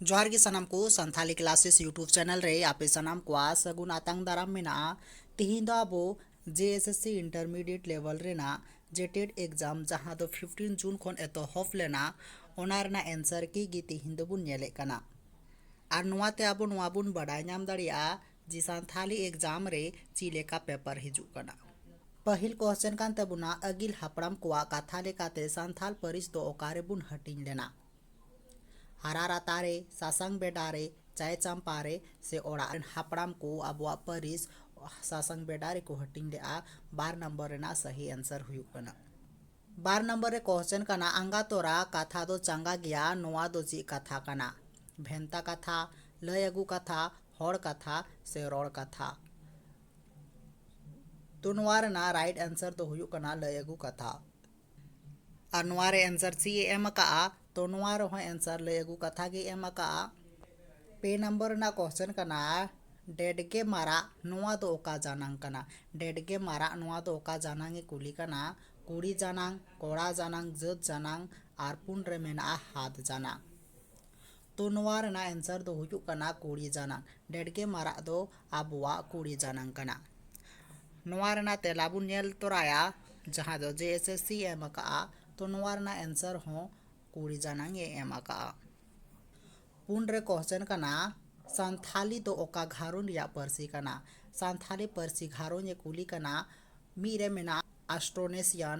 ᱡᱚᱦᱟᱨ ᱜᱮ ᱥᱟᱱᱟᱢ ᱠᱚ ᱥᱟᱱᱛᱷᱟᱞᱤ ᱠᱞᱟᱥᱮᱥ ᱭᱩᱴᱩᱵᱽ ᱪᱮᱱᱮᱞ ᱨᱮ ᱟᱯᱮ ᱥᱟᱱᱟᱢ ᱠᱚᱣᱟ ᱥᱟᱹᱜᱩᱱ ᱟᱛᱟᱝ ᱫᱟᱨᱟᱢ ᱢᱮᱱᱟᱜᱼᱟ ᱛᱤᱦᱤᱧ ᱫᱚ ᱟᱵᱚ J S S C intermediate ᱞᱮᱵᱮᱞ ᱨᱮᱱᱟᱜ ᱡᱮᱴᱮᱰ ᱮᱠᱡᱟᱢ ᱡᱟᱦᱟᱸ ᱫᱚ ᱯᱷᱤᱯᱴᱤᱱ ᱡᱩᱱ ᱠᱷᱚᱱ ᱮᱛᱚᱦᱚᱵ ᱞᱮᱱᱟ ᱚᱱᱟ ᱨᱮᱱᱟᱜ ᱮᱱᱥᱟᱨ ᱠᱤ ᱜᱮ ᱛᱤᱦᱤᱧ ᱫᱚᱵᱚᱱ ᱧᱮᱞᱮᱫ ᱠᱟᱱᱟ ᱟᱨ ᱱᱚᱣᱟᱛᱮ ᱟᱵᱚ ᱱᱚᱣᱟ ᱵᱚᱱ ᱵᱟᱰᱟᱭ ᱧᱟᱢ ᱫᱟᱲᱮᱭᱟᱜᱼᱟ ᱡᱤ ᱥᱟᱱᱛᱷᱟᱞᱤ ᱮᱠᱡᱟᱢ ᱨᱮ ᱪᱤ ᱞᱮᱠᱟ ᱯᱮᱯᱟᱨ ᱦᱤᱡᱩᱜ ᱠᱟᱱᱟ? ᱯᱟᱹᱦᱤᱞ ᱠᱚᱥᱪᱮᱱ ᱠᱟᱱ ᱛᱟᱵᱚᱱᱟ ᱟᱹᱜᱤᱞ ᱦᱟᱯᱲᱟᱢ ᱠᱚᱣᱟᱜ ᱠᱟᱛᱷᱟ ᱞᱮᱠᱟᱛᱮ ᱥᱟᱱᱛᱷᱟᱞ ᱯᱟᱹᱨᱤᱥ ᱫᱚ ᱚᱠᱟ ᱨᱮ ᱵᱚᱱ ᱦᱟᱹᱴᱤᱧ ᱞᱮᱱᱟ? ᱦᱟᱨᱟ ᱨᱟᱛᱟ ᱨᱮ, ᱥᱟᱥᱟᱝ ᱵᱮᱰᱟ ᱨᱮ, ᱪᱟᱭ ᱪᱟᱢᱯᱟ ᱨᱮ ᱥᱮ ᱚᱲᱟᱜ ᱨᱮᱱ ᱦᱟᱯᱲᱟᱢ ᱠᱚ ᱟᱵᱚᱣᱟᱜ ᱯᱟᱹᱨᱤᱥ ᱥᱟᱥᱟᱝ ᱵᱮᱰᱟ ᱨᱮ ᱠᱚ ᱦᱟᱹᱴᱤᱧ ᱞᱮᱫᱼᱟ ᱵᱟᱨ ᱱᱚᱢᱵᱚᱨ ᱨᱮᱱᱟᱜ ᱥᱟᱹᱦᱤ ᱮᱱᱥᱟᱨ ᱦᱩᱭᱩᱜ ᱠᱟᱱᱟ᱾ ᱵᱟᱨ ᱱᱚᱢᱵᱚᱨ ᱨᱮ ᱠᱚᱥᱪᱮᱱ ᱠᱟᱱᱟ ᱟᱸᱜᱟ ᱛᱚᱨᱟ ᱠᱟᱛᱷᱟ ᱫᱚ ᱪᱟᱸᱜᱟ ᱜᱮᱭᱟ ᱱᱚᱶᱟ ᱫᱚ ᱪᱮᱫ ᱠᱟᱛᱷᱟ ᱠᱟᱱᱟ? ᱵᱷᱮᱱᱛᱟ ᱠᱟᱛᱷᱟ, ᱞᱟᱹᱭ ᱟᱹᱜᱩ ᱠᱟᱛᱷᱟ, ᱦᱚᱲ ᱠᱟᱛᱷᱟ ᱥᱮ ᱨᱚᱲ ᱠᱟᱛᱷᱟ ᱛᱚ ᱱᱚᱣᱟ ᱨᱮᱱᱟᱜ ᱨᱟᱭᱤᱴ ᱮᱱᱥᱟᱨ ᱫᱚ ᱦᱩᱭᱩᱜ ᱠᱟᱱᱟ ᱞᱟᱹᱭ ᱟᱹᱜᱩ ᱠᱟᱛᱷᱟ ᱟᱨ ᱱᱚᱣᱟ ᱨᱮ ᱮᱱᱥᱟᱨ ᱥᱤ ᱮ ᱮᱢ ᱟᱠᱟᱫᱼᱟ ᱛᱚ ᱱᱚᱣᱟ ᱨᱮᱦᱚᱸ ᱮᱱᱥᱟᱨ ᱞᱟᱹᱭ ᱟᱹᱜᱩ ᱠᱟᱛᱷᱟ ᱜᱮ ᱮᱢ ᱟᱠᱟᱫᱼᱟ ᱯᱮ ᱱᱟᱢᱵᱟᱨ ᱨᱮᱱᱟᱜ ᱠᱚᱥᱪᱮᱱ ᱠᱟᱱᱟ ᱰᱮᱰᱜᱮ ᱢᱟᱨᱟᱜ ᱱᱚᱣᱟ ᱫᱚ ᱚᱠᱟ ᱡᱟᱱᱟᱝ ᱠᱟᱱᱟ ᱰᱮᱰᱜᱮ ᱢᱟᱨᱟᱜ ᱱᱚᱣᱟ ᱫᱚ ᱚᱠᱟ ᱡᱟᱱᱟᱝ ᱮ ᱠᱩᱞᱤ ᱠᱟᱱᱟ ᱠᱩᱲᱤ ᱡᱟᱱᱟᱝ ᱠᱚᱲᱟ ᱡᱟᱱᱟᱝ ᱡᱟᱹᱛ ᱡᱟᱱᱟᱝ ᱟᱨ ᱯᱩᱱ ᱨᱮ ᱢᱮᱱᱟᱜᱼᱟ ᱦᱟᱛ ᱡᱟᱱᱟᱝ ᱛᱚ ᱱᱚᱣᱟ ᱨᱮᱱᱟᱜ ᱮᱱᱥᱟᱨ ᱫᱚ ᱦᱩᱭᱩᱜ ᱠᱟᱱᱟ ᱠᱩᱲᱤ ᱡᱟᱱᱟᱝ ᱰᱮᱰ ᱜᱮ ᱢᱟᱨᱟᱜ ᱫᱚ ᱟᱵᱚᱣᱟᱜ ᱠᱩᱲᱤ ᱡᱟᱱᱟᱝ ᱠᱟᱱᱟ ᱱᱚᱣᱟ ᱨᱮᱱᱟᱜ ᱛᱮᱞᱟ ᱵᱚᱱ ᱧᱮᱞ ᱛᱚᱨᱟᱭᱟ ᱡᱟᱦᱟᱸ ᱫᱚ ᱡᱮ ᱮᱥ ᱮᱥ ᱥᱤ ᱮᱢ ᱟᱠᱟᱫᱼᱟ ᱛᱚ ᱱᱚᱣᱟ ᱨᱮᱱᱟᱜ ᱮᱱᱥᱟᱨ ᱦᱚᱸ ᱠᱩᱲᱤ ᱡᱟᱱᱟᱝ ᱮ ᱮᱢ ᱟᱠᱟᱫᱼᱟ ᱯᱩᱱ ᱨᱮ ᱠᱚᱥᱪᱮᱱ ᱠᱟᱱᱟ ᱥᱟᱱᱛᱷᱟᱞᱤ ᱫᱚ ᱚᱠᱟ ᱜᱷᱟᱨᱚᱸᱡᱽ ᱨᱮᱭᱟᱜ ᱯᱟᱹᱨᱥᱤ ᱠᱟᱱᱟ ᱥᱟᱱᱛᱷᱟᱞᱤ ᱯᱟᱹᱨᱥᱤ ᱜᱷᱟᱨᱚᱸᱡᱽ ᱮ ᱠᱩᱞᱤ ᱠᱟᱱᱟ ᱢᱤᱫ ᱨᱮ ᱢᱮᱱᱟᱜᱼᱟ ᱟᱥᱴᱨᱳᱱᱮᱥᱤᱭᱟᱱ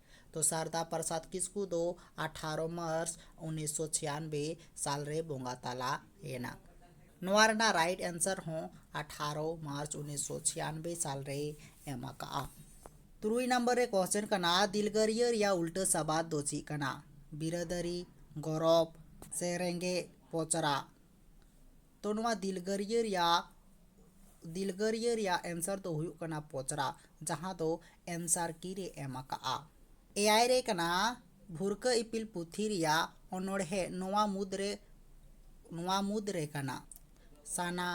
ᱛᱚ ᱥᱟᱨᱫᱟ ᱯᱨᱚᱥᱟᱫᱽ ᱠᱤᱥᱠᱩ ᱫᱚ ᱟᱴᱷᱟᱨᱚ ᱢᱟᱨᱪ ᱩᱱᱤᱥ ᱥᱚ ᱪᱷᱤᱭᱟᱱᱵᱮ ᱥᱟᱞ ᱨᱮ ᱵᱚᱸᱜᱟ ᱛᱟᱞᱟ ᱮᱱᱟ ᱱᱚᱣᱟ ᱨᱮᱱᱟᱜ ᱨᱟᱭᱤᱴ ᱮᱱᱥᱟᱨ ᱦᱚᱸ ᱟᱴᱷᱟᱨᱚ ᱢᱟᱨᱪ ᱩᱱᱤᱥ ᱥᱚ ᱪᱷᱤᱭᱟᱱᱵᱮ ᱥᱟᱞ ᱨᱮᱭ ᱮᱢ ᱟᱠᱟᱫᱼᱟ ᱛᱩᱨᱩᱭ ᱱᱟᱢᱵᱟᱨ ᱨᱮ ᱠᱚᱥᱪᱮᱱ ᱠᱟᱱᱟ ᱫᱤᱞᱜᱟᱹᱨᱤᱭᱟᱹ ᱨᱮᱭᱟᱜ ᱩᱞᱴᱟᱹ ᱥᱟᱵᱟᱫ ᱫᱚ ᱪᱮᱫ ᱠᱟᱱᱟ ᱵᱤᱨᱟᱹᱫᱟᱹᱨᱤ ᱜᱚᱨᱚᱵᱽ ᱥᱮ ᱨᱮᱸᱜᱮᱡ ᱯᱚᱪᱨᱟ ᱛᱚ ᱱᱚᱣᱟ ᱫᱤᱞᱜᱟᱹᱨᱤᱭᱟᱹ ᱨᱮᱭᱟᱜ ᱫᱤᱞᱜᱟᱹᱨᱤᱭᱟᱹ ᱨᱮᱭᱟᱜ ᱮᱱᱥᱟᱨ ᱫᱚ ᱦᱩᱭᱩᱜ ᱠᱟᱱᱟ ᱯᱚᱪᱨᱟ ᱡᱟᱦᱟᱸ ᱫᱚ ᱮᱱᱥᱟᱨ ᱠᱤ ᱨᱮ ᱮᱢ ᱟᱠᱟᱜᱼᱟ ᱮᱭᱟᱭ ᱨᱮ ᱠᱟᱱᱟ ᱵᱷᱩᱨᱠᱟᱹ ᱤᱯᱤᱞ ᱯᱩᱛᱷᱤ ᱨᱮᱭᱟᱜ ᱚᱱᱚᱬᱦᱮ ᱱᱚᱣᱟ ᱢᱩᱫᱽ ᱨᱮ ᱱᱚᱣᱟ ᱢᱩᱫᱽ ᱨᱮ ᱠᱟᱱᱟ ᱥᱟᱱᱟ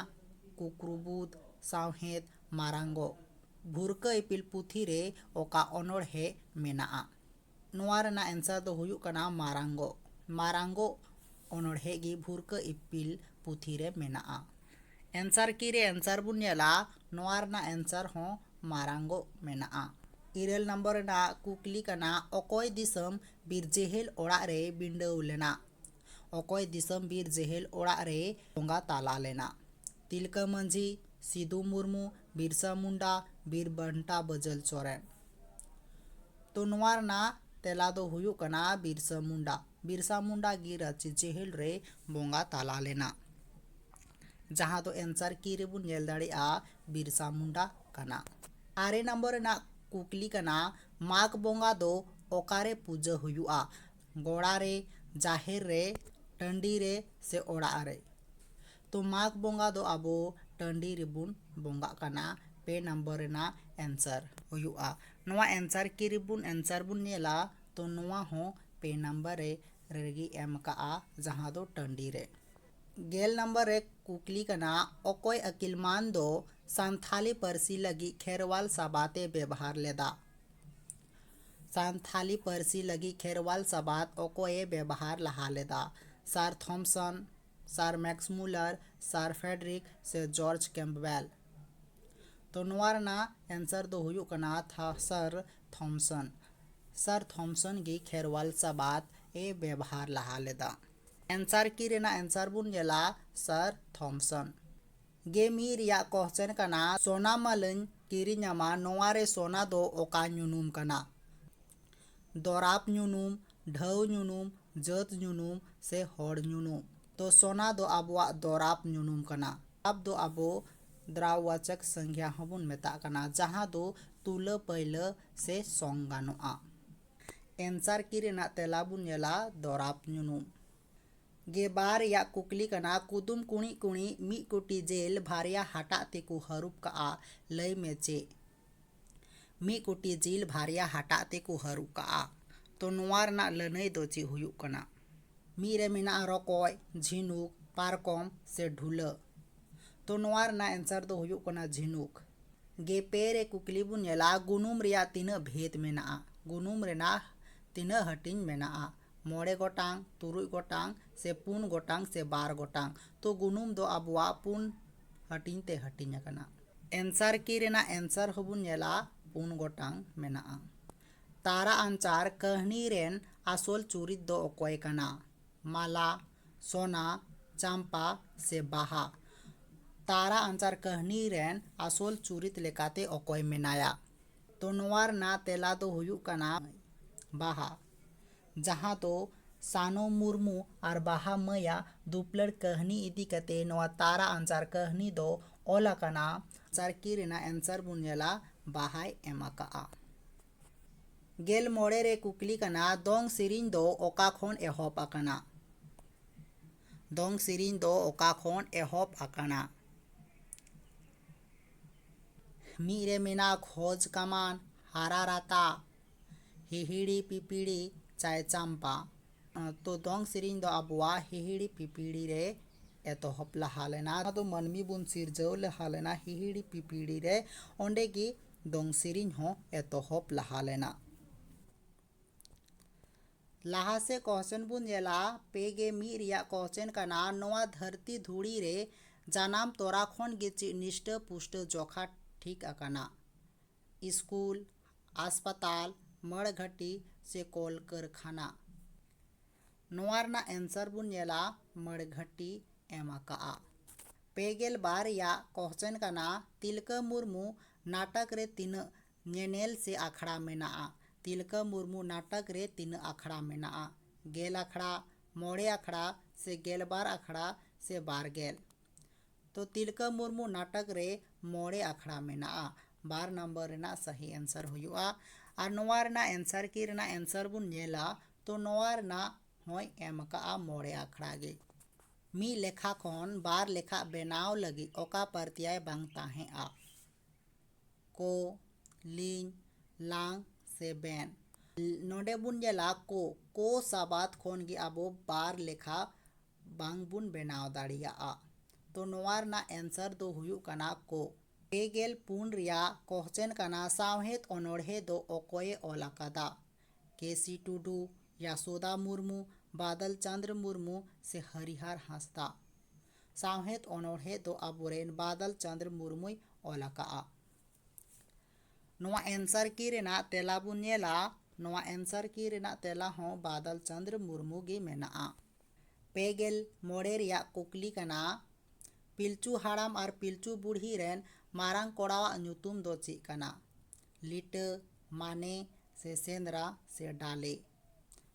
ᱠᱩᱠᱨᱩᱵᱩᱫ ᱥᱟᱶᱦᱮᱫ ᱢᱟᱨᱟᱝᱜᱚ ᱵᱷᱩᱨᱠᱟᱹ ᱤᱯᱤᱞ ᱯᱩᱛᱷᱤ ᱨᱮ ᱚᱠᱟ ᱚᱱᱚᱬᱦᱮ ᱢᱮᱱᱟᱜᱼᱟ ᱱᱚᱣᱟ ᱨᱮᱱᱟᱜ ᱮᱱᱥᱟᱨ ᱫᱚ ᱦᱩᱭᱩᱜ ᱠᱟᱱᱟ ᱢᱟᱨᱟᱝᱜᱚ᱾ ᱢᱟᱨᱟᱝᱜᱚ ᱚᱱᱚᱬᱦᱮ ᱜᱮ ᱵᱷᱩᱨᱠᱟᱹ ᱤᱯᱤᱞ ᱯᱩᱛᱷᱤ ᱨᱮ ᱢᱮᱱᱟᱜᱼᱟ᱾ ᱮᱱᱥᱟᱨ ᱠᱤ ᱨᱮ ᱮᱱᱥᱟᱨ ᱵᱚᱱ ᱧᱮᱞᱟ ᱱᱚᱣᱟ ᱨᱮᱱᱟᱜ ᱮᱱᱥᱟᱨ ᱦᱚᱸ ᱢᱟᱨᱟᱝᱜᱚ ᱢᱮᱱᱟᱜᱼᱟ᱾ ᱤᱨᱟᱹᱞ ᱱᱚᱢᱵᱚᱨ ᱨᱮᱱᱟᱜ ᱠᱩᱠᱞᱤ ᱠᱟᱱᱟ ᱚᱠᱚᱭ ᱫᱤᱥᱚᱢ ᱵᱤᱨᱡᱮᱦᱮᱞ ᱚᱲᱟᱜ ᱨᱮᱭ ᱵᱤᱸᱰᱟᱹᱣ ᱞᱮᱱᱟ? ᱚᱠᱚᱭ ᱫᱤᱥᱚᱢ ᱵᱤᱨ ᱡᱮᱦᱮᱞ ᱚᱲᱟᱜ ᱨᱮᱭ ᱵᱚᱸᱜᱟ ᱛᱟᱞᱟ ᱞᱮᱱᱟ ᱛᱤᱞᱠᱟᱹ ᱢᱟᱹᱡᱷᱤ ᱥᱤᱫᱩ ᱢᱩᱨᱢᱩ ᱵᱤᱨᱥᱟ ᱢᱩᱱᱰᱟ ᱵᱤᱨ ᱵᱟᱱᱴᱟ ᱵᱟᱹᱡᱟᱹᱞ ᱥᱚᱨᱮᱱ ᱛᱚ ᱱᱚᱣᱟ ᱨᱮᱱᱟᱜ ᱛᱮᱞᱟ ᱫᱚ ᱦᱩᱭᱩᱜ ᱠᱟᱱᱟ ᱵᱤᱨᱥᱟ ᱢᱩᱱᱰᱟ ᱵᱤᱨᱥᱟ ᱢᱩᱱᱰᱟ ᱜᱮ ᱨᱟᱺᱪᱤ ᱡᱮᱦᱮᱞ ᱨᱮᱭ ᱵᱚᱸᱜᱟ ᱛᱟᱞᱟ ᱞᱮᱱᱟ ᱡᱟᱦᱟᱸ ᱫᱚ ᱮᱱᱥᱟᱨ ᱠᱤ ᱨᱮᱵᱚᱱ ᱧᱮᱞ ᱫᱟᱲᱮᱭᱟᱜᱼᱟ ᱵᱤᱨᱥᱟ ᱢᱩᱱᱰᱟ ᱠᱟᱱᱟ ᱟᱨᱮ ᱱᱚᱢᱵᱚᱨ ᱨᱮᱱᱟᱜ ᱠᱩᱠᱞᱤ ᱠᱟᱱᱟ ᱢᱟᱜᱽ ᱵᱚᱸᱜᱟ ᱫᱚ ᱚᱠᱟᱨᱮ ᱯᱩᱡᱟᱹ ᱦᱩᱭᱩᱜᱼᱟ ᱜᱚᱲᱟ ᱨᱮ ᱡᱟᱦᱮᱨ ᱨᱮ ᱴᱟᱺᱰᱤ ᱨᱮ ᱥᱮ ᱚᱲᱟᱜ ᱨᱮ ᱛᱚ ᱢᱟᱜᱽ ᱵᱚᱸᱜᱟ ᱫᱚ ᱟᱵᱚ ᱴᱟᱺᱰᱤ ᱨᱮᱵᱚᱱ ᱵᱚᱸᱜᱟᱜ ᱠᱟᱱᱟ ᱯᱮ ᱱᱟᱢᱵᱟᱨ ᱨᱮᱱᱟᱜ ᱮᱱᱥᱟᱨ ᱦᱩᱭᱩᱜᱼᱟ ᱱᱚᱣᱟ ᱮᱱᱥᱟᱨ ᱠᱤ ᱨᱮᱵᱚᱱ ᱮᱱᱥᱟᱨ ᱵᱚᱱ ᱧᱮᱞᱟ ᱛᱚ ᱱᱚᱣᱟ ᱦᱚᱸ ᱯᱮ ᱱᱟᱢᱵᱟᱨ ᱨᱮ ᱨᱮᱜᱮ ᱮᱢ ᱠᱟᱜᱼᱟ ᱡᱟᱦᱟᱸ ᱫᱚ ᱴᱟᱺᱰᱤ ᱨᱮ ᱜᱮᱞ ᱱᱟᱢᱵᱟᱨ ᱨᱮ ᱠᱩᱠᱞᱤ ᱠᱟᱱᱟ ᱚᱠᱚᱭ ᱟᱹᱠᱤᱞ ᱢᱟᱱ ᱫᱚ ᱥᱟᱱᱛᱷᱟᱞᱤ ᱯᱟᱹᱨᱥᱤ ᱞᱟᱹᱜᱤᱫ ᱠᱷᱮᱨᱣᱟᱞ ᱥᱟᱵᱟᱛᱮ ᱵᱮᱵᱷᱟᱨ ᱞᱮᱫᱟ ᱥᱟᱱᱛᱷᱟᱞᱤ ᱯᱟᱹᱨᱥᱤ ᱞᱟᱹᱜᱤᱫ ᱠᱷᱮᱨᱣᱟᱞ ᱥᱟᱵᱟᱫ ᱚᱠᱚᱭ ᱮ ᱵᱮᱵᱷᱟᱨ ᱞᱟᱦᱟ ᱞᱮᱫᱟ? Sir Thompson, sir Max Muller, sir Frederick ᱥᱮ ᱡᱚᱨᱡᱽ ᱠᱮᱢᱯᱵᱮᱞ? ᱛᱚ ᱱᱚᱣᱟ ᱨᱮᱱᱟᱜ ᱮᱱᱥᱟᱨ ᱫᱚ ᱦᱩᱭᱩᱜ ᱠᱟᱱᱟ ᱥᱟᱨ ᱛᱷᱚᱢᱯᱥᱚᱱ᱾ ᱥᱟᱨ ᱛᱷᱚᱢᱯᱥᱚᱱ ᱜᱮ ᱠᱷᱮᱨᱣᱟᱞ ᱥᱟᱵᱟᱫ ᱮ ᱵᱮᱵᱷᱟᱨ ᱞᱟᱦᱟ ᱞᱮᱫᱟ᱾ ᱮᱱᱥᱟᱨ ᱠᱤ ᱨᱮᱱᱟᱜ ᱮᱱᱥᱟᱨ ᱵᱚᱱ ᱧᱮᱞᱟ ᱥᱟᱨ ᱛᱷᱚᱢᱯᱥᱚᱱ᱾ ᱜᱮ ᱢᱤᱫ ᱨᱮᱭᱟᱜ ᱠᱚᱦᱪᱮᱱ ᱠᱟᱱᱟ ᱥᱚᱱᱟ ᱢᱟᱞᱟᱹᱧ ᱠᱤᱨᱤᱧᱟᱢᱟ ᱱᱚᱶᱟ ᱨᱮ ᱥᱚᱱᱟ ᱫᱚ ᱚᱠᱟ ᱧᱩᱱᱩᱢ ᱠᱟᱱᱟ ᱫᱚᱨᱟᱵᱽ ᱧᱩᱱᱩᱢ ᱰᱷᱟᱹᱣ ᱧᱩᱱᱩᱢ ᱡᱟᱹᱛ ᱧᱩᱱᱩᱢ ᱥᱮ ᱦᱚᱲ ᱧᱩᱱᱩᱢ ᱛᱚ ᱥᱚᱱᱟ ᱫᱚ ᱟᱵᱚᱣᱟᱜ ᱫᱚᱨᱟᱵᱽ ᱧᱩᱱᱩᱢ ᱠᱟᱱᱟ ᱫᱚᱨᱟᱵᱽ ᱫᱚ ᱟᱵᱚ ᱫᱨᱟᱣᱵᱟᱪᱚᱠ ᱥᱟᱝᱜᱷᱭᱟ ᱦᱚᱸ ᱵᱚᱱ ᱢᱮᱛᱟᱜ ᱠᱟᱱᱟ ᱡᱟᱦᱟᱸ ᱫᱚ ᱛᱩᱞᱟᱹ ᱯᱟᱹᱭᱞᱟᱹ ᱥᱮ ᱥᱚᱝ ᱜᱟᱱᱚᱜᱼᱟ ᱮᱱᱥᱟᱨ ᱠᱤ ᱨᱮᱱᱟᱜ ᱛᱮᱞᱟ ᱵᱚᱱ ᱧᱮᱞᱟ ᱫᱚᱨᱟᱵᱽ ᱧᱩᱱᱩᱢ᱾ ᱜᱮᱵᱟᱨ ᱨᱮᱭᱟᱜ ᱠᱩᱠᱞᱤ ᱠᱟᱱᱟ ᱠᱩᱫᱩᱢ ᱠᱩᱬᱤᱫ ᱠᱩᱬᱤᱫ ᱢᱤᱫ ᱠᱩᱴᱤ ᱡᱮᱞ ᱵᱷᱟᱨᱭᱟ ᱦᱟᱴᱟᱜ ᱛᱮᱠᱚ ᱦᱟᱹᱨᱩᱵ ᱠᱟᱜᱼᱟ ᱞᱟᱹᱭ ᱢᱮ ᱪᱮᱫ ᱢᱤᱫ ᱠᱩᱴᱤ ᱡᱤᱞ ᱵᱷᱟᱨᱭᱟ ᱦᱟᱴᱟᱜ ᱛᱮᱠᱚ ᱦᱟᱹᱨᱩᱵ ᱠᱟᱜᱼᱟ ᱛᱚ ᱱᱚᱣᱟ ᱨᱮᱱᱟᱜ ᱞᱟᱹᱱᱟᱹᱭ ᱫᱚ ᱪᱮᱫ ᱦᱩᱭᱩᱜ ᱠᱟᱱᱟ ᱢᱤᱫ ᱨᱮ ᱢᱮᱱᱟᱜᱼᱟ ᱨᱚᱠᱚᱡ ᱡᱷᱤᱱᱩᱠ ᱯᱟᱨᱠᱚᱢ ᱥᱮ ᱰᱷᱩᱞᱟᱹᱜ ᱛᱚ ᱱᱚᱣᱟ ᱨᱮᱱᱟᱜ ᱮᱱᱥᱟᱨ ᱫᱚ ᱦᱩᱭᱩᱜ ᱠᱟᱱᱟ ᱡᱷᱤᱱᱩᱠ ᱜᱮ ᱯᱮ ᱨᱮ ᱠᱩᱠᱞᱤ ᱵᱚᱱ ᱧᱮᱞᱟ ᱜᱩᱱᱩᱢ ᱨᱮᱭᱟᱜ ᱛᱤᱱᱟᱹᱜ ᱵᱷᱮᱫ ᱢᱮᱱᱟᱜᱼᱟ ᱜᱩᱱᱩᱢ ᱨᱮᱱᱟᱜ ᱛᱤᱱᱟᱹᱜ ᱦᱟᱹᱴᱤᱧ ᱢᱮᱱᱟᱜᱼᱟ ᱢᱚᱬᱮ ᱜᱚᱴᱟᱝ ᱛᱩᱨᱩᱭ ᱜᱚᱴᱟᱝ ᱥᱮ ᱯᱩᱱ ᱜᱚᱴᱟᱝ ᱥᱮ ᱵᱟᱨ ᱜᱚᱴᱟᱝ ᱛᱚ ᱜᱩᱱᱩᱢ ᱫᱚ ᱟᱵᱚᱣᱟᱜ ᱯᱩᱱ ᱦᱟᱹᱴᱤᱧ ᱛᱮ ᱦᱟᱹᱴᱤᱧ ᱟᱠᱟᱱᱟ ᱮᱱᱥᱟᱨ ᱠᱤ ᱨᱮᱱᱟᱜ ᱮᱱᱥᱟᱨ ᱦᱚᱸᱵᱚᱱ ᱧᱮᱞᱟ ᱯᱩᱱ ᱜᱚᱴᱟᱝ ᱢᱮᱱᱟᱜᱼᱟ ᱛᱟᱨᱟ ᱟᱱᱪᱟᱨ ᱠᱟᱹᱦᱱᱤ ᱨᱮᱱ ᱟᱥᱚᱞ ᱪᱩᱨᱤᱛ ᱫᱚ ᱚᱠᱚᱭ ᱠᱟᱱᱟ ᱢᱟᱞᱟ ᱥᱚᱱᱟ ᱪᱟᱢᱯᱟ ᱥᱮ ᱵᱟᱦᱟ ᱛᱟᱨᱟ ᱟᱱᱪᱟᱨ ᱠᱟᱹᱦᱱᱤ ᱨᱮᱱ ᱟᱥᱚᱞ ᱪᱩᱨᱤᱛ ᱞᱮᱠᱟᱛᱮ ᱚᱠᱚᱭ ᱢᱮᱱᱟᱭᱟ ᱛᱚ ᱱᱚᱣᱟ ᱨᱮᱱᱟᱜ ᱛᱮᱞᱟ ᱫᱚ ᱦᱩᱭᱩᱜ ᱠᱟᱱᱟ ᱵᱟᱦᱟ ᱡᱟᱦᱟᱸ ᱫᱚ ᱥᱟᱱᱳ ᱢᱩᱨᱢᱩ ᱟᱨ ᱵᱟᱦᱟ ᱢᱟᱹᱭᱟᱜ ᱫᱩᱯᱞᱟᱹᱲ ᱠᱟᱹᱦᱱᱤ ᱤᱫᱤ ᱠᱟᱛᱮ ᱱᱚᱣᱟ ᱛᱟᱨᱟ ᱟᱱᱪᱟᱨ ᱠᱟᱹᱦᱱᱤ ᱫᱚ ᱚᱞ ᱟᱠᱟᱱᱟ ᱟᱱᱥᱟᱨ ᱠᱤ ᱨᱮᱱᱟᱜ ᱮᱱᱥᱟᱨ ᱵᱚᱱ ᱧᱮᱞᱟ ᱵᱟᱦᱟᱭ ᱮᱢ ᱟᱠᱟᱫᱼᱟ ᱜᱮᱞ ᱢᱚᱬᱮ ᱨᱮ ᱠᱩᱠᱞᱤ ᱠᱟᱱᱟ ᱫᱚᱝ ᱥᱮᱨᱮᱧ ᱫᱚ ᱚᱠᱟ ᱠᱷᱚᱱ ᱮᱦᱚᱵ ᱟᱠᱟᱱᱟ ᱫᱚᱝ ᱥᱮᱨᱮᱧ ᱫᱚ ᱚᱠᱟ ᱠᱷᱚᱱ ᱮᱦᱚᱵ ᱟᱠᱟᱱᱟ ᱢᱤᱫ ᱨᱮ ᱢᱮᱱᱟᱜ ᱠᱷᱚᱡᱽ ᱠᱟᱢᱟᱱ ᱦᱟᱨᱟ ᱨᱟᱛᱟ ᱦᱤᱦᱤᱲᱤ ᱯᱤᱯᱤᱲᱤ ᱪᱟᱭ ᱪᱟᱢᱯᱟ ᱛᱚ ᱫᱚᱝ ᱥᱮᱨᱮᱧ ᱫᱚ ᱟᱵᱚᱣᱟᱜ ᱦᱤᱦᱤᱲᱤ ᱯᱤᱯᱤᱲᱤ ᱨᱮ ᱮᱛᱚᱦᱚᱵ ᱞᱟᱦᱟ ᱞᱮᱱᱟ ᱚᱱᱟ ᱫᱚ ᱢᱟᱹᱱᱢᱤ ᱵᱚᱱ ᱥᱤᱨᱡᱟᱹᱣ ᱞᱟᱦᱟ ᱞᱮᱱᱟ ᱦᱤᱦᱤᱲᱤ ᱯᱤᱯᱤᱲᱤ ᱨᱮ ᱚᱸᱰᱮ ᱜᱮ ᱫᱚᱝ ᱥᱮᱨᱮᱧ ᱦᱚᱸ ᱮᱛᱚᱦᱚᱵ ᱞᱟᱦᱟ ᱞᱮᱱᱟ ᱞᱟᱦᱟ ᱥᱮᱫ ᱠᱚᱥᱪᱮᱱ ᱵᱚᱱ ᱧᱮᱞᱟ ᱯᱮ ᱜᱮ ᱢᱤᱫ ᱨᱮᱭᱟᱜ ᱠᱚᱥᱪᱮᱱ ᱠᱟᱱᱟ ᱱᱚᱣᱟ ᱫᱷᱟᱹᱨᱛᱤ ᱫᱷᱩᱲᱤ ᱨᱮ ᱡᱟᱱᱟᱢ ᱛᱚᱨᱟ ᱠᱷᱚᱱ ᱜᱮ ᱪᱮᱫ ᱱᱤᱥᱴᱟᱹ ᱯᱩᱥᱴᱟᱹ ᱡᱚᱠᱷᱟ ᱴᱷᱤᱠ ᱟᱠᱟᱱᱟ ᱥᱠᱩᱞ ᱦᱟᱥᱯᱟᱛᱟᱞ ᱢᱟᱹᱲ ᱜᱷᱟᱹᱴᱤ ᱥᱮ ᱠᱚᱞ ᱠᱟᱹᱨᱠᱷᱟᱱᱟ ᱱᱚᱣᱟ ᱨᱮᱱᱟᱜ ᱮᱱᱥᱟᱨ ᱵᱚᱱ ᱧᱮᱞᱟ ᱢᱟᱹᱲ ᱜᱷᱟᱹᱴᱤ ᱮᱢ ᱟᱠᱟᱫᱼᱟ ᱯᱮ ᱜᱮᱞ ᱵᱟᱨ ᱨᱮᱭᱟᱜ ᱠᱚᱥᱪᱮᱱ ᱠᱟᱱᱟ ᱛᱤᱞᱠᱟᱹ ᱢᱩᱨᱢᱩ ᱱᱟᱴᱚᱠ ᱨᱮ ᱛᱤᱱᱟᱹᱜ ᱧᱮᱱᱮᱞ ᱥᱮ ᱟᱠᱷᱲᱟ ᱢᱮᱱᱟᱜᱼᱟ᱾ ᱛᱤᱞᱠᱟᱹ ᱢᱩᱨᱢᱩ ᱱᱟᱴᱚᱠ ᱨᱮ ᱛᱤᱱᱟᱹᱜ ᱟᱠᱷᱲᱟ ᱢᱮᱱᱟᱜᱼᱟ? ᱜᱮᱞ ᱟᱠᱷᱲᱟ, ᱢᱚᱬᱮ ᱟᱠᱷᱲᱟ ᱥᱮ ᱜᱮᱞᱵᱟᱨ ᱟᱠᱷᱲᱟ ᱥᱮ ᱵᱟᱨᱜᱮᱞ? ᱛᱚ ᱛᱤᱞᱠᱟᱹ ᱢᱩᱨᱢᱩ ᱱᱟᱴᱚᱠ ᱨᱮ ᱢᱚᱬᱮ ᱟᱠᱷᱲᱟ ᱢᱮᱱᱟᱜᱼᱟ᱾ ᱵᱟᱨ ᱱᱟᱢᱵᱟᱨ ᱨᱮᱱᱟᱜ ᱥᱟᱹᱦᱤ ᱮᱱᱥᱟᱨ ᱦᱩᱭᱩᱜᱼᱟ᱾ ᱟᱨ ᱱᱚᱣᱟ ᱨᱮᱱᱟᱜ ᱮᱱᱥᱟᱨ ᱠᱤ ᱨᱮᱱᱟᱜ ᱮᱱᱥᱟᱨ ᱵᱚᱱ ᱧᱮᱞᱟ ᱛᱚ ᱱᱚᱣᱟ ᱨᱮᱱᱟᱜ ᱦᱚᱸᱭ ᱮᱢ ᱟᱠᱟᱫᱼᱟ ᱢᱚᱬᱮ ᱟᱠᱷᱲᱟ ᱜᱮ᱾ ᱢᱤᱫ ᱞᱮᱠᱷᱟ ᱠᱷᱚᱱ ᱵᱟᱨ ᱞᱮᱠᱷᱟ ᱵᱮᱱᱟᱣ ᱞᱟᱹᱜᱤᱫ ᱚᱠᱟ ᱯᱟᱹᱨᱛᱭᱟᱭ ᱵᱟᱝ ᱛᱟᱦᱮᱸᱫᱼᱟ? ᱠᱚ ᱞᱤᱧ ᱞᱟᱝ ᱥᱮ ᱵᱮᱱ ᱱᱚᱰᱮ ᱵᱚᱱ ᱧᱮᱞᱟ ᱠᱚ ᱠᱚ ᱥᱟᱵᱟᱫ ᱠᱷᱚᱱ ᱜᱮ ᱟᱵᱚ ᱵᱟᱨ ᱞᱮᱠᱷᱟ ᱵᱟᱝ ᱵᱚᱱ ᱵᱮᱱᱟᱣ ᱫᱟᱲᱮᱭᱟᱜᱼᱟ ᱛᱚ ᱱᱚᱣᱟ ᱨᱮᱱᱟᱜ ᱮᱱᱥᱟᱨ ᱫᱚ ᱦᱩᱭᱩᱜ ᱠᱟᱱᱟ ᱠᱚ ᱯᱮ ᱜᱮᱞ ᱯᱩᱱ ᱨᱮᱭᱟᱜ ᱠᱚᱥᱪᱮᱱ ᱠᱟᱱᱟ ᱥᱟᱶᱦᱮᱫ ᱚᱱᱚᱬᱦᱮ ᱫᱚ ᱚᱠᱚᱭᱮ ᱚᱞ ᱟᱠᱟᱫᱟ ᱠᱮ ᱥᱤ ᱴᱩᱰᱩ ᱭᱟᱥᱳᱫᱟ ᱢᱩᱨᱢᱩ ᱵᱟᱫᱚᱞ ᱪᱚᱱᱫᱨᱚ ᱢᱩᱨᱢᱩ ᱥᱮ ᱦᱚᱨᱤᱦᱚᱨ ᱦᱟᱸᱥᱫᱟ ᱥᱟᱶᱦᱮᱫ ᱚᱱᱚᱬᱦᱮ ᱫᱚ ᱟᱵᱚ ᱨᱮᱱ ᱵᱟᱫᱚᱞ ᱪᱚᱸᱫᱽᱨᱚ ᱢᱩᱨᱢᱩᱭ ᱚᱞ ᱟᱠᱟᱫᱼᱟ᱾ ᱱᱚᱣᱟ ᱮᱱᱥᱟᱨ ᱠᱤ ᱨᱮᱱᱟᱜ ᱛᱮᱞᱟ ᱵᱚᱱ ᱧᱮᱞᱟ᱾ ᱱᱚᱣᱟ ᱮᱱᱥᱟᱨ ᱠᱤ ᱨᱮᱱᱟᱜ ᱛᱮᱞᱟ ᱦᱚᱸ ᱵᱟᱫᱚᱞ ᱪᱚᱸᱫᱽᱨᱚ ᱢᱩᱨᱢᱩ ᱜᱮ ᱢᱮᱱᱟᱜᱼᱟ᱾ ᱯᱮ ᱜᱮᱞ ᱢᱚᱬᱮ ᱨᱮᱭᱟᱜ ᱠᱩᱠᱞᱤ ᱠᱟᱱᱟ, ᱯᱤᱞᱪᱩ ᱦᱟᱲᱟᱢ ᱟᱨ ᱯᱤᱞᱪᱩ ᱵᱩᱲᱦᱤ ᱨᱮᱱ ᱢᱟᱨᱟᱝ ᱠᱚᱲᱟᱣᱟᱜ ᱧᱩᱛᱩᱢ ᱫᱚ ᱪᱮᱫ ᱠᱟᱱᱟ? ᱞᱤᱴᱟᱹ ᱢᱟᱱᱮ ᱥᱮ ᱥᱮᱸᱫᱽᱨᱟ ᱥᱮ ᱰᱟᱞᱮ᱾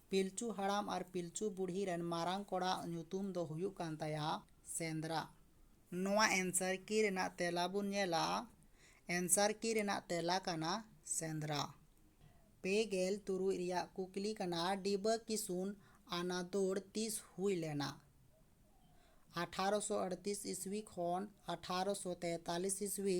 ᱯᱤᱞᱪᱩ ᱦᱟᱲᱟᱢ ᱟᱨ ᱯᱤᱞᱪᱩ ᱵᱩᱰᱷᱤ ᱨᱮᱱ ᱢᱟᱨᱟᱝ ᱠᱚᱲᱟ ᱟᱜ ᱧᱩᱛᱩᱢ ᱫᱚ ᱦᱩᱭᱩᱜ ᱠᱟᱱ ᱛᱟᱭᱟ ᱥᱮᱸᱫᱽᱨᱟ᱾ ᱱᱚᱣᱟ ᱮᱱᱥᱟᱨ ᱠᱤ ᱨᱮᱱᱟᱜ ᱛᱮᱞᱟ ᱵᱚᱱ ᱧᱮᱞᱟ᱾ ᱮᱱᱥᱟᱨ ᱠᱤ ᱨᱮᱱᱟᱜ ᱛᱮᱞᱟ ᱠᱟᱱᱟ ᱥᱮᱸᱫᱽᱨᱟ᱾ ᱯᱮ ᱜᱮᱞ ᱛᱩᱨᱩᱭ ᱨᱮᱭᱟᱜ ᱠᱩᱠᱞᱤ ᱠᱟᱱᱟ ᱰᱤᱵᱟᱹ ᱠᱤᱥᱩᱱ ᱟᱱᱟ ᱫᱳᱲ ᱛᱤᱥ ᱦᱩᱭ ᱞᱮᱱᱟ? ᱟᱴᱷᱟᱨᱚ ᱥᱚ ᱟᱹᱲᱛᱤᱥ ᱤᱥᱣᱤ ᱠᱷᱚᱱ ᱟᱴᱷᱟᱨᱚ ᱥᱚ ᱛᱮᱛᱟᱞᱤᱥ ᱤᱥᱣᱤ᱾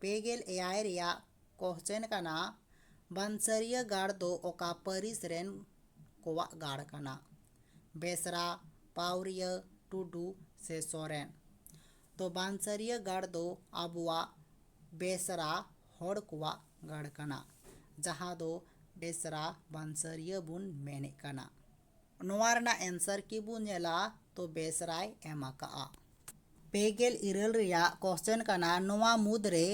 ᱯᱮ ᱜᱮᱞ ᱮᱭᱟᱭ ᱨᱮᱭᱟᱜ ᱠᱚᱦᱪᱮᱱ ᱠᱟᱱᱟ ᱵᱟᱱᱥᱟᱹᱨᱤᱭᱟᱹ ᱜᱟᱲ ᱫᱚ ᱚᱠᱟ ᱯᱟᱹᱨᱤᱥ ᱨᱮᱱ ᱠᱚᱣᱟᱜ ᱜᱟᱲ ᱠᱟᱱᱟ ᱵᱮᱥᱨᱟ ᱯᱟᱣᱨᱤᱭᱟᱹ ᱴᱩᱰᱩ ᱥᱮ ᱥᱚᱨᱮᱱ ᱛᱚ ᱵᱟᱱᱥᱟᱹᱨᱤᱭᱟᱹ ᱜᱟᱲ ᱫᱚ ᱟᱵᱚᱣᱟᱜ ᱵᱮᱥᱨᱟ ᱦᱚᱲ ᱠᱚᱣᱟᱜ ᱜᱟᱲ ᱠᱟᱱᱟ ᱡᱟᱦᱟᱸ ᱫᱚ ᱵᱮᱥᱨᱟ ᱵᱟᱱᱥᱟᱹᱨᱤᱭᱟᱹ ᱵᱚᱱ ᱢᱮᱱᱮᱫ ᱠᱟᱱᱟ ᱱᱚᱣᱟ ᱨᱮᱱᱟᱜ ᱮᱱᱥᱟᱨ ᱠᱤ ᱵᱚ ᱧᱮᱞᱟ ᱛᱚ ᱵᱮᱥ ᱨᱟᱭ ᱮᱢ ᱟᱠᱟᱫᱼᱟ ᱯᱮ ᱜᱮᱞ ᱤᱨᱟᱹᱞ ᱨᱮᱭᱟᱜ ᱠᱚᱥᱪᱮᱱ ᱠᱟᱱᱟ ᱱᱚᱣᱟ ᱢᱩᱫᱽ ᱨᱮ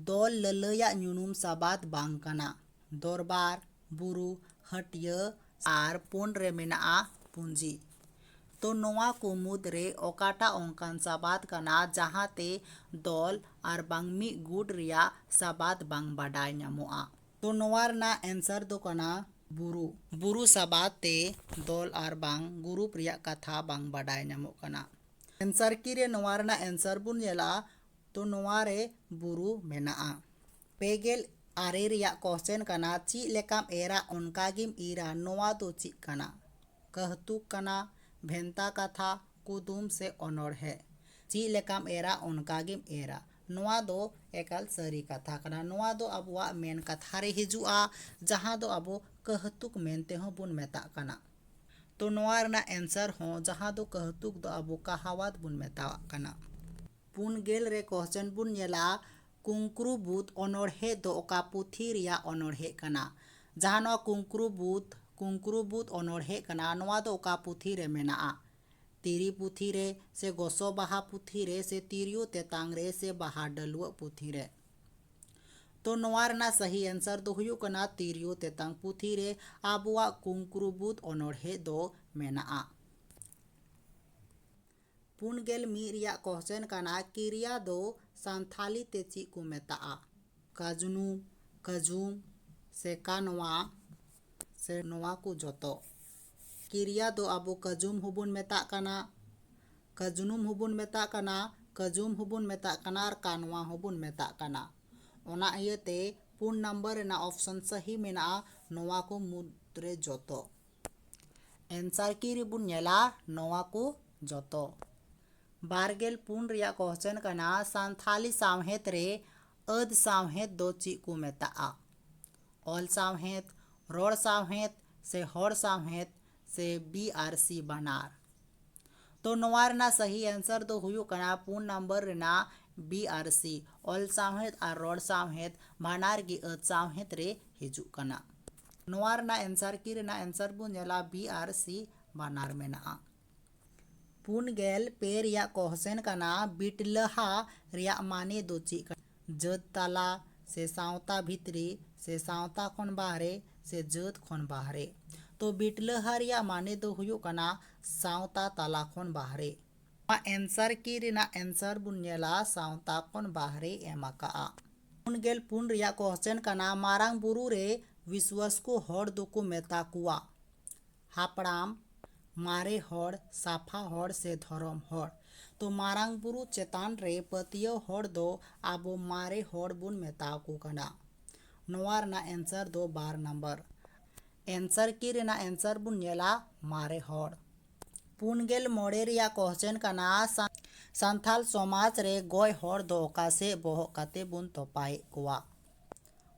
ᱫᱚᱞ ᱞᱟᱹᱞᱟᱹᱭᱟᱜ ᱧᱩᱱᱩᱢ ᱥᱟᱵᱟᱫ ᱵᱟᱝ ᱠᱟᱱᱟ ᱫᱚᱨᱵᱟᱨ ᱵᱩᱨᱩ ᱦᱟᱹᱴᱭᱟᱹ ᱟᱨ ᱯᱩᱱ ᱨᱮ ᱢᱮᱱᱟᱜᱼᱟ ᱯᱩᱸᱡᱤ ᱛᱚ ᱱᱚᱣᱟ ᱠᱚ ᱢᱩᱫᱽ ᱨᱮ ᱚᱠᱟᱴᱟᱜ ᱚᱱᱠᱟᱱ ᱥᱟᱵᱟᱫ ᱠᱟᱱᱟ ᱡᱟᱦᱟᱸ ᱛᱮ ᱫᱚᱞ ᱟᱨ ᱵᱟᱝ ᱢᱤᱫ ᱜᱩᱴ ᱨᱮᱭᱟᱜ ᱥᱟᱵᱟᱫ ᱵᱟᱝ ᱵᱟᱰᱟᱭ ᱧᱟᱢᱚᱜᱼᱟ ᱛᱚ ᱱᱚᱣᱟ ᱨᱮᱱᱟᱜ ᱮᱱᱥᱟᱨ ᱫᱚ ᱠᱟᱱᱟ ᱵᱩᱨᱩ᱾ ᱵᱩᱨᱩ ᱥᱟᱵᱟᱫ ᱛᱮ ᱫᱚᱞ ᱟᱨ ᱵᱟᱝ ᱜᱩᱨᱩᱯ ᱨᱮᱭᱟᱜ ᱠᱟᱛᱷᱟ ᱵᱟᱝ ᱵᱟᱰᱟᱭ ᱧᱟᱢᱚᱜ ᱠᱟᱱᱟ᱾ ᱮᱱᱥᱟᱨ ᱠᱤ ᱨᱮ ᱱᱚᱣᱟ ᱨᱮᱱᱟᱜ ᱮᱱᱥᱟᱨ ᱵᱚᱱ ᱧᱮᱞᱟ ᱛᱚ ᱱᱚᱣᱟ ᱨᱮ ᱵᱩᱨᱩ ᱢᱮᱱᱟᱜᱼᱟ᱾ ᱯᱮ ᱜᱮᱞ ᱟᱨᱮ ᱨᱮᱭᱟᱜ ᱠᱚᱥᱪᱮᱱ ᱠᱟᱱᱟ ᱪᱮᱫ ᱞᱮᱠᱟᱢ ᱮᱨᱟ ᱚᱱᱠᱟ ᱜᱮᱢ ᱤᱨᱟ ᱱᱚᱣᱟ ᱫᱚ ᱪᱮᱫ ᱠᱟᱱᱟ? ᱠᱟᱹᱦᱛᱩᱠ ᱠᱟᱱᱟ, ᱵᱷᱮᱱᱛᱟ ᱠᱟᱛᱷᱟ, ᱠᱩᱫᱩᱢ ᱥᱮ ᱚᱱᱚᱬᱦᱮ? ᱪᱮᱫ ᱞᱮᱠᱟᱢ ᱮᱨᱟ ᱚᱱᱠᱟ ᱜᱮᱢ ᱮᱨᱟ᱾ ᱱᱚᱣᱟ ᱫᱚ ᱮᱠᱟᱞ ᱥᱟᱹᱨᱤ ᱠᱟᱛᱷᱟ ᱠᱟᱱᱟ ᱱᱚᱣᱟ ᱫᱚ ᱟᱵᱚᱣᱟᱜ ᱢᱮᱱ ᱠᱟᱛᱷᱟ ᱨᱮ ᱦᱤᱡᱩᱜᱼᱟ ᱡᱟᱦᱟᱸ ᱫᱚ ᱟᱵᱚ ᱠᱟᱹᱦᱛᱩᱠ ᱢᱮᱱᱛᱮ ᱦᱚᱸ ᱵᱚᱱ ᱢᱮᱛᱟᱜ ᱠᱟᱱᱟ ᱛᱚ ᱱᱚᱣᱟ ᱨᱮᱱᱟᱜ ᱮᱱᱥᱟᱨ ᱦᱚᱸ ᱡᱟᱦᱟᱸ ᱫᱚ ᱠᱟᱹᱦᱛᱩᱠ ᱫᱚ ᱟᱵᱚ ᱠᱟᱦᱟᱣᱟᱛ ᱵᱚᱱ ᱢᱮᱛᱟᱣᱟᱜ ᱠᱟᱱᱟ ᱯᱩᱱ ᱜᱮᱞ ᱨᱮ ᱠᱚᱦᱪᱚᱱ ᱵᱚᱱ ᱧᱮᱞᱟ ᱠᱩᱝᱠᱨᱩ ᱵᱩᱫ ᱚᱱᱚᱲᱦᱮ ᱫᱚ ᱚᱠᱟ ᱯᱩᱛᱷᱤ ᱨᱮᱭᱟᱜ ᱚᱱᱚᱲᱦᱮ ᱠᱟᱱᱟ ᱡᱟᱦᱟᱸ ᱱᱚᱣᱟ ᱠᱩᱝᱠᱨᱩ ᱵᱩᱫ ᱠᱩᱝᱠᱨᱩ ᱵᱩᱫ ᱚᱱᱚᱲᱦᱮ ᱠᱟᱱᱟ ᱱᱚᱣᱟ ᱫᱚ ᱚᱠᱟ ᱯᱩᱛᱷᱤ ᱨᱮ ᱢᱮᱱᱟᱜᱼᱟ ᱛᱤᱨᱤ ᱯᱩᱛᱷᱤ ᱨᱮ ᱥᱮ ᱜᱚᱥᱚ ᱵᱟᱦᱟ ᱯᱩᱛᱷᱤ ᱨᱮ ᱥᱮ ᱛᱤᱨᱭᱳ ᱛᱮᱛᱟᱝ ᱨᱮ ᱥᱮ ᱵᱟᱦᱟ ᱰᱟᱹᱞᱣᱟᱹᱜ ᱯᱩᱛᱷᱤ ᱨᱮ᱾ ᱛᱚ ᱱᱚᱣᱟ ᱨᱮᱱᱟᱜ ᱥᱟᱹᱦᱤ ᱮᱱᱥᱟᱨ ᱫᱚ ᱦᱩᱭᱩᱜ ᱠᱟᱱᱟ ᱛᱤᱨᱭᱳ ᱛᱮᱛᱟᱝ ᱯᱩᱛᱷᱤ ᱨᱮ ᱟᱵᱚᱣᱟᱜ ᱠᱩᱝᱠᱨᱩ ᱵᱩᱫᱽ ᱚᱱᱚᱬᱦᱮ ᱫᱚ ᱢᱮᱱᱟᱜᱼᱟ᱾ ᱯᱩᱱ ᱜᱮᱞ ᱢᱤᱫ ᱨᱮᱭᱟᱜ ᱠᱚᱦᱥᱮᱱ ᱠᱟᱱᱟ ᱠᱤᱨᱭᱟ ᱫᱚ ᱥᱟᱱᱛᱷᱟᱞᱤ ᱛᱮ ᱪᱮᱫ ᱠᱚ ᱢᱮᱛᱟᱜᱼᱟ? ᱠᱟᱡᱽᱱᱩ ᱠᱟᱡᱩᱢ ᱥᱮ ᱠᱟᱱᱣᱟ ᱥᱮ ᱱᱚᱣᱟ ᱠᱚ ᱡᱚᱛᱚ ᱠᱤᱨᱭᱟ ᱫᱚ ᱟᱵᱚ ᱠᱟᱡᱩᱢ ᱦᱚᱸᱵᱚᱱ ᱢᱮᱛᱟᱜ ᱠᱟᱱᱟ ᱠᱟᱡᱽᱱᱩᱢ ᱦᱚᱸᱵᱚᱱ ᱢᱮᱛᱟᱜ ᱠᱟᱱᱟ ᱠᱟᱡᱩᱢ ᱦᱚᱸᱵᱚᱱ ᱢᱮᱛᱟᱜ ᱠᱟᱱᱟ ᱟᱨ ᱠᱟᱱᱣᱟ ᱦᱚᱸᱵᱚᱱ ᱢᱮᱛᱟᱜ ᱠᱟᱱᱟ ᱚᱱᱟ ᱤᱭᱟᱹᱛᱮ ᱯᱩᱱ ᱱᱟᱢᱵᱟᱨ ᱨᱮᱱᱟᱜ ᱚᱯᱷᱥᱮᱱ ᱥᱟᱹᱦᱤ ᱢᱮᱱᱟᱜᱼᱟ ᱱᱚᱣᱟ ᱠᱚ ᱢᱩᱫᱽ ᱨᱮ ᱡᱚᱛᱚ ᱮᱱᱥᱟᱨ ᱠᱤ ᱨᱮᱵᱚᱱ ᱧᱮᱞᱟ ᱱᱚᱣᱟ ᱠᱚ ᱡᱚᱛᱚ ᱵᱟᱨ ᱜᱮᱞ ᱯᱩᱱ ᱨᱮᱭᱟᱜ ᱠᱚᱥᱪᱮᱱ ᱠᱟᱱᱟ ᱥᱟᱱᱛᱷᱟᱞᱤ ᱥᱟᱶᱦᱮᱫ ᱨᱮ ᱟᱹᱫᱽ ᱥᱟᱶᱦᱮᱫ ᱫᱚ ᱪᱮᱫ ᱠᱚ ᱢᱮᱛᱟᱜᱼᱟ ᱚᱞ ᱥᱟᱶᱦᱮᱫ ᱨᱚᱲ ᱥᱟᱶᱦᱮᱫ ᱥᱮ ᱦᱚᱲ ᱥᱟᱶᱦᱮᱫ ᱥᱮ ᱵᱤ ᱟᱨ ᱥᱤ ᱵᱟᱱᱟᱨ ᱛᱚ ᱱᱚᱣᱟ ᱨᱮᱱᱟᱜ ᱥᱟᱹᱦᱤ ᱮᱱᱥᱟᱨ ᱫᱚ ᱦᱩᱭᱩᱜ ᱠᱟᱱᱟ ᱯᱩᱱ ᱱᱟᱢᱵᱟᱨ ᱨᱮᱱᱟᱜ ᱵᱤ ᱟᱨ ᱥᱤ ᱚᱞ ᱥᱟᱶᱦᱮᱫ ᱟᱨ ᱨᱚᱲ ᱥᱟᱶᱦᱮᱫ ᱵᱟᱱᱟᱨ ᱜᱮ ᱟᱹᱫᱽ ᱥᱟᱶᱦᱮᱫ ᱨᱮ ᱦᱤᱡᱩᱜ ᱠᱟᱱᱟ ᱱᱚᱣᱟ ᱨᱮᱱᱟᱜ ᱮᱱᱥᱟᱨ ᱠᱤ ᱨᱮᱱᱟᱜ ᱮᱱᱥᱟᱨ ᱵᱚᱱ ᱧᱮᱞᱟ ᱵᱤ ᱟᱨ ᱥᱤ ᱵᱟᱱᱟᱨ ᱢᱮᱱᱟᱜᱼᱟ ᱯᱩᱱ ᱜᱮᱞ ᱯᱮ ᱨᱮᱭᱟᱜ ᱠᱚᱦᱥᱮᱱ ᱠᱟᱱᱟ ᱵᱤᱴᱞᱟᱹᱦᱟ ᱨᱮᱭᱟᱜ ᱢᱟᱱᱮ ᱫᱚ ᱪᱮᱫ ᱠᱟᱱᱟ ᱡᱟᱹᱛ ᱛᱟᱞᱟ ᱥᱮ ᱥᱟᱶᱛᱟ ᱵᱷᱤᱛᱨᱤ ᱥᱮ ᱥᱟᱶᱛᱟ ᱠᱷᱚᱱ ᱵᱟᱦᱨᱮ ᱥᱮ ᱡᱟᱹᱛ ᱠᱷᱚᱱ ᱵᱟᱦᱨᱮ ᱛᱚ ᱵᱤᱴᱞᱟᱹᱦᱟ ᱨᱮᱭᱟᱜ ᱢᱟᱱᱮ ᱫᱚ ᱦᱩᱭᱩᱜ ᱠᱟᱱᱟ ᱥᱟᱶᱛᱟ ᱛᱟᱞᱟ ᱠᱷᱚᱱ ᱵᱟᱦᱨᱮ᱾ ᱱᱚᱣᱟ ᱮᱱᱥᱟᱨ ᱠᱤ ᱨᱮᱱᱟᱜ ᱮᱱᱥᱟᱨ ᱵᱚᱱ ᱧᱮᱞᱟ ᱥᱟᱶᱛᱟ ᱠᱷᱚᱱ ᱵᱟᱦᱨᱮᱭ ᱮᱢ ᱟᱠᱟᱫᱼᱟ᱾ ᱯᱩᱱ ᱜᱮᱞ ᱯᱩᱱ ᱨᱮᱭᱟᱜ ᱠᱚᱦᱥᱮᱱ ᱠᱟᱱᱟ ᱢᱟᱨᱟᱝ ᱵᱩᱨᱩ ᱨᱮ ᱵᱤᱥᱣᱟᱹᱥ ᱠᱚ ᱦᱚᱲ ᱫᱚᱠᱚ ᱢᱮᱛᱟ ᱠᱚᱣᱟ᱾ ᱦᱟᱯᱲᱟᱢ ᱢᱟᱨᱮ ᱦᱚᱲ ᱥᱟᱯᱷᱟ ᱦᱚᱲ ᱥᱮ ᱫᱷᱚᱨᱚᱢ ᱦᱚᱲ ᱛᱚ ᱢᱟᱨᱟᱝ ᱵᱩᱨᱩ ᱪᱮᱛᱟᱱ ᱨᱮ ᱯᱟᱹᱛᱭᱟᱹᱣ ᱦᱚᱲ ᱫᱚ ᱟᱵᱚ ᱢᱟᱨᱮ ᱦᱚᱲ ᱵᱚᱱ ᱢᱮᱛᱟ ᱟᱠᱚ ᱠᱟᱱᱟ ᱱᱚᱣᱟ ᱨᱮᱱᱟᱜ ᱮᱱᱥᱟᱨ ᱫᱚ ᱵᱟᱨ ᱱᱟᱢᱵᱟᱨ ᱮᱱᱥᱟᱨ ᱠᱤ ᱨᱮᱱᱟᱜ ᱮᱱᱥᱟᱨ ᱵᱚᱱ ᱧᱮᱞᱟ ᱢᱟᱨᱮ ᱦᱚᱲ ᱯᱩᱱ ᱜᱮᱞ ᱢᱚᱬᱮ ᱨᱮᱭᱟᱜ ᱠᱚᱥᱪᱮᱱ ᱠᱟᱱᱟ ᱥᱟᱱᱛᱟᱲ ᱥᱚᱢᱟᱡᱽ ᱨᱮ ᱜᱚᱡ ᱦᱚᱲ ᱫᱚ ᱚᱠᱟ ᱥᱮᱫ ᱵᱚᱦᱚᱜ ᱠᱟᱛᱮ ᱵᱚᱱ ᱛᱚᱯᱟᱭᱮᱫ ᱠᱚᱣᱟ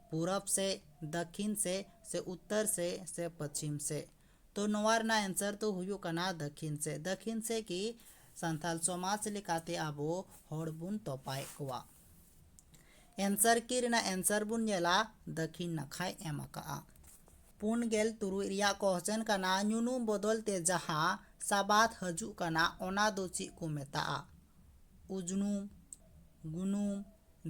ᱯᱩᱨᱚᱵᱽ ᱥᱮᱫ ᱫᱟᱹᱠᱷᱤᱱ ᱥᱮᱫ ᱥᱮ ᱩᱛᱛᱚᱨ ᱥᱮᱫ ᱥᱮ ᱯᱚᱪᱷᱤᱢ ᱥᱮᱫ ᱛᱚ ᱱᱚᱣᱟ ᱨᱮᱱᱟᱜ ᱮᱱᱥᱟᱨ ᱫᱚ ᱦᱩᱭᱩᱜ ᱠᱟᱱᱟ ᱫᱟᱹᱠᱷᱤᱱ ᱥᱮᱫ ᱫᱟᱹᱠᱷᱤᱱ ᱥᱮᱫ ᱜᱮ ᱥᱟᱱᱛᱟᱞ ᱥᱚᱢᱟᱡᱽ ᱞᱮᱠᱟᱛᱮ ᱟᱵᱚ ᱦᱚᱲ ᱵᱚᱱ ᱛᱚᱯᱟᱭᱮᱫ ᱠᱚᱣᱟ ᱮᱱᱥᱟᱨ ᱠᱤ ᱨᱮᱱᱟᱜ ᱮᱱᱥᱟᱨ ᱵᱚᱱ ᱧᱮᱞᱟ ᱫᱟᱹᱠᱷᱤᱱ ᱱᱟᱠᱷᱟᱭ ᱮᱢ ᱟᱠᱟᱜᱼᱟ ᱯᱩᱱ ᱜᱮᱞ ᱛᱩᱨᱩᱭ ᱨᱮᱭᱟᱜ ᱠᱚᱦᱚᱪᱮᱱ ᱠᱟᱱᱟ ᱧᱩᱱᱩᱢ ᱵᱚᱫᱚᱞ ᱛᱮ ᱡᱟᱦᱟᱸ ᱥᱟᱵᱟᱫ ᱦᱤᱡᱩᱜ ᱠᱟᱱᱟ ᱚᱱᱟ ᱫᱚ ᱪᱮᱫ ᱠᱚ ᱢᱮᱛᱟᱜᱼᱟ ᱩᱡᱽᱱᱩᱢ ᱜᱩᱱᱩᱢ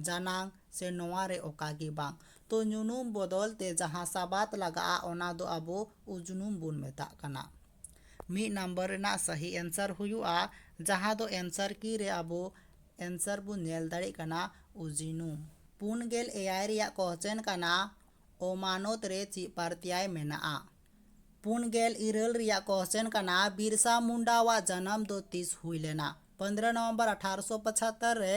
ᱡᱟᱱᱟᱝ ᱥᱮ ᱱᱚᱣᱟ ᱨᱮ ᱚᱠᱟ ᱜᱮ ᱵᱟᱝ᱾ ᱛᱚ ᱧᱩᱱᱩᱢ ᱵᱚᱫᱚᱞ ᱛᱮ ᱡᱟᱦᱟᱸ ᱥᱟᱵᱟᱫᱽ ᱞᱟᱜᱟᱜᱼᱟ ᱚᱱᱟ ᱫᱚ ᱟᱵᱚ ᱩᱡᱽᱱᱩᱢ ᱵᱚᱱ ᱢᱮᱛᱟᱜ ᱠᱟᱱᱟ᱾ ᱢᱤᱫ ᱱᱟᱢᱵᱟᱨ ᱨᱮᱱᱟᱜ ᱥᱟᱹᱦᱤ ᱮᱱᱥᱟᱨ ᱦᱩᱭᱩᱜᱼᱟ ᱡᱟᱦᱟᱸ ᱫᱚ ᱮᱱᱥᱟᱨ ᱠᱤ ᱨᱮ ᱟᱵᱚ ᱮᱱᱥᱟᱨ ᱵᱚᱱ ᱧᱮᱞ ᱫᱟᱲᱮᱜ ᱠᱟᱱᱟ ᱩᱡᱽᱱᱩᱢ᱾ ᱯᱩᱱ ᱜᱮᱞ ᱮᱭᱟᱭ ᱨᱮᱭᱟᱜ ᱠᱚᱦᱪᱮᱱ ᱠᱟᱱᱟ ᱚᱢᱟᱱᱚᱛ ᱨᱮ ᱪᱮᱫ ᱯᱟᱨᱛᱭᱟᱭ ᱢᱮᱱᱟᱜᱼᱟ? ᱯᱩᱱ ᱜᱮᱞ ᱤᱨᱟᱹᱞ ᱨᱮᱭᱟᱜ ᱠᱚᱦᱪᱮᱱ ᱠᱟᱱᱟ ᱵᱤᱨᱥᱟ ᱢᱩᱱᱰᱟ ᱣᱟᱜ ᱡᱟᱱᱟᱢ ᱫᱚ ᱛᱤᱥ ᱦᱩᱭ ᱞᱮᱱᱟ? ᱯᱚᱱᱫᱽᱨᱚ ᱱᱚᱣᱚᱢᱵᱚᱨ ᱟᱴᱷᱟᱨᱚᱥᱚ ᱯᱚᱪᱷᱟᱛᱛᱚᱨ ᱨᱮ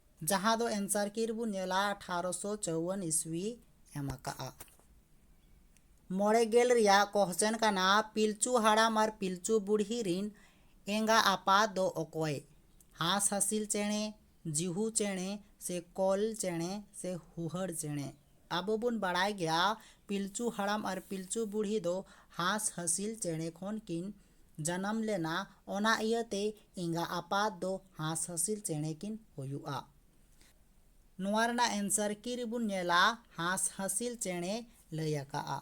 ᱡᱟᱦᱟᱸ ᱫᱚ ᱮᱱᱥᱟᱨ ᱠᱤ ᱨᱮᱵᱚ ᱧᱮᱞᱟ ᱟᱴᱷᱟᱨᱚᱥᱚ ᱪᱟᱣᱟᱱ ᱤᱥᱣᱤ ᱮᱢ ᱟᱠᱟᱜᱼᱟ ᱢᱚᱬᱮ ᱜᱮᱞ ᱨᱮᱭᱟᱜ ᱠᱚᱦᱪᱮᱱ ᱠᱟᱱᱟ ᱯᱤᱞᱪᱩ ᱦᱟᱲᱟᱢ ᱟᱨ ᱯᱤᱞᱪᱩ ᱵᱩᱲᱦᱤ ᱨᱤᱱ ᱮᱸᱜᱟ ᱟᱯᱟ ᱫᱚ ᱚᱠᱚᱭ ᱦᱟᱸᱥ ᱦᱟᱸᱥᱤᱞ ᱪᱮᱬᱮ ᱡᱤᱦᱩ ᱪᱮᱬᱮ ᱥᱮ ᱠᱚᱞ ᱪᱮᱬᱮ ᱥᱮ ᱦᱩᱦᱟᱹᱨ ᱪᱮᱬᱮ ᱟᱵᱚ ᱵᱚᱱ ᱵᱟᱲᱟᱭ ᱜᱮᱭᱟ ᱯᱤᱞᱪᱩ ᱦᱟᱲᱟᱢ ᱟᱨ ᱯᱤᱞᱪᱩ ᱵᱩᱲᱦᱤ ᱫᱚ ᱦᱟᱸᱥ ᱦᱟᱸᱥᱤᱞ ᱪᱮᱬᱮ ᱠᱷᱚᱱ ᱠᱤᱱ ᱡᱟᱱᱟᱢ ᱞᱮᱱᱟ ᱚᱱᱟ ᱤᱭᱟᱹ ᱛᱮ ᱮᱸᱜᱟ ᱟᱯᱟᱛ ᱫᱚ ᱦᱟᱸᱥ ᱦᱟᱹᱥᱤᱞ ᱪᱮᱬᱮ ᱠᱤᱱ ᱦᱩᱭᱩᱜᱼᱟ ᱱᱚᱣᱟ ᱨᱮᱱᱟᱜ ᱮᱱᱥᱟᱨ ᱠᱤ ᱨᱮᱵᱚᱱ ᱧᱮᱞᱟ ᱦᱟᱸᱥ ᱦᱟᱹᱥᱤᱞ ᱪᱮᱬᱮ ᱞᱟᱹᱭ ᱟᱠᱟᱜᱼᱟ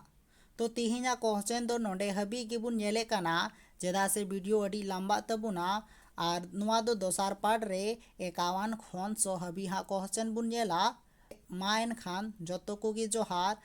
ᱛᱚ ᱛᱮᱦᱮᱧᱟᱜ ᱠᱚᱦᱪᱮᱱ ᱫᱚ ᱱᱚᱰᱮ ᱦᱟᱹᱵᱤᱡ ᱜᱮᱵᱚᱱ ᱧᱮᱞᱮᱫ ᱠᱟᱱᱟ ᱪᱮᱫᱟᱜ ᱥᱮ ᱵᱷᱤᱰᱤᱭᱳ ᱟᱹᱰᱤ ᱞᱟᱢᱵᱟᱜ ᱛᱟᱵᱚᱱᱟ ᱟᱨ ᱱᱚᱣᱟ ᱫᱚ ᱫᱚᱥᱟᱨ ᱯᱟᱨᱴ ᱨᱮ ᱮᱠᱟᱣᱟᱱ ᱠᱷᱚᱱ ᱥᱚ ᱦᱟᱹᱵᱤᱡ ᱦᱟᱸᱜ ᱠᱚᱦᱪᱮᱱ ᱵᱚᱱ ᱧᱮᱞᱟ ᱢᱟ ᱮᱱᱠᱷᱟᱱ ᱡᱚᱛᱚ ᱠᱚᱜᱮ ᱡᱚᱦᱟᱨ